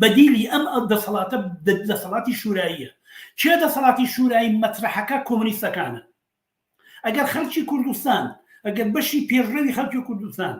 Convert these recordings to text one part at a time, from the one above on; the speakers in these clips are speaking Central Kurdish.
بەدیلی ئەم ئەو دەسەڵاتە دەسەڵاتی شوراییە کێ دەسەڵاتی شورایی مەترحەکە کۆمنیستەکانە ئەگەر خەلکی کوردستان ئەگەر بەشی پێشڕەوی خەلکی کوردستان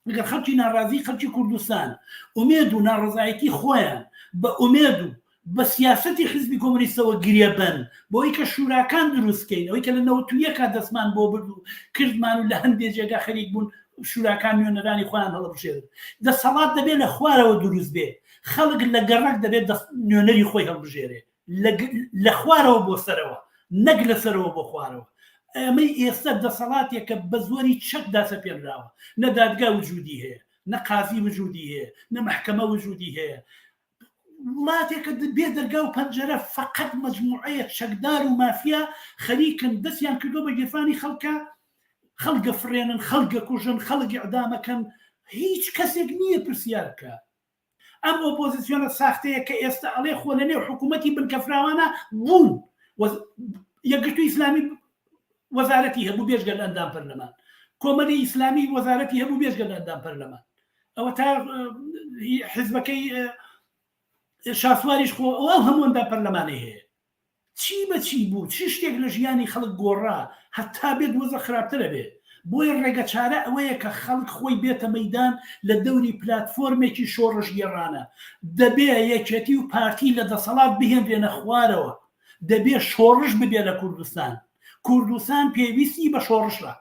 ئەگەر خەلکی ناڕازی خەلکی کوردستان ئومێد و ناڕزایەتی خۆیان بە ئومێد و بە سیاسەتی حیزبی کۆمۆنیستەوە گرێبەن بۆی کە شوراکان دروستکەین ئەوی کە لە نەوەت و یەکا دەستمان بۆ برد و کردمان و لە هەندێ جێگا خەریک بوون شوراکان نوێنەرانی خۆیان هەڵبژێرن دەسەڵات دەبێت لە خوارەوە دروست بێ خەڵک لە گەڕک دەبێت نوێنەری خۆی هەڵبژێرێ لە خوارەوە بۆ سەرەوە نەک لە سەرەوە بۆ خوارەوە ئەمەی ئێستا دەسەڵاتێکە بە زۆری چەکدا سەپێنراوە نە دادگا وجودی هەیە نە قازی وجودی هەیە نە محکەمە وجودی هەیە وڵاتێکە بێ دەرگا و پەنجەرە فەقەت مەجموعەیە چەکدار و مافیا خەریکن دەستیان کردوە بە گیرفانی خەڵکە خەڵگە فڕێنن خەڵگە کوژن خەڵک ئیعدامەکەن هیچ کەسێک نییە پرسیار بکە ئەم ئۆپۆزیسیۆنە ساختەیە کە ئێستا ئەڵێ خۆ لە نێو حکوومەتی بنکەفراوانە بوون یەکگرتوو ئیسلامی وەزارەتی هەبوو بێژگە لە ئەندام پەرلەمان کۆمەلی ئیسلامی وەزارەتی هەبوو بێژگە لە ئەندام پەرلەمان ئەوە تا حزبەکەی شاسواریش خۆ ئەو هەمووەندا پەرلەمانی هەیە چی بەچی بوو چ شتێک لە ژیانی خەڵک گۆڕا هەتا بێت وەزە خراپترە بێ بۆیە ڕێگە چارە ئەوەیە کە خەڵک خۆی بێتە مەدان لە دەوری پلتفۆرمێکی شۆڕش گێڕانە دەبێ یەکێتی و پارتی لە دەسەڵات بهێنرێنە خوارەوە دەبێ شۆڕش ببێ لە کوردستان کوردستان پێویستی بە شۆڕشە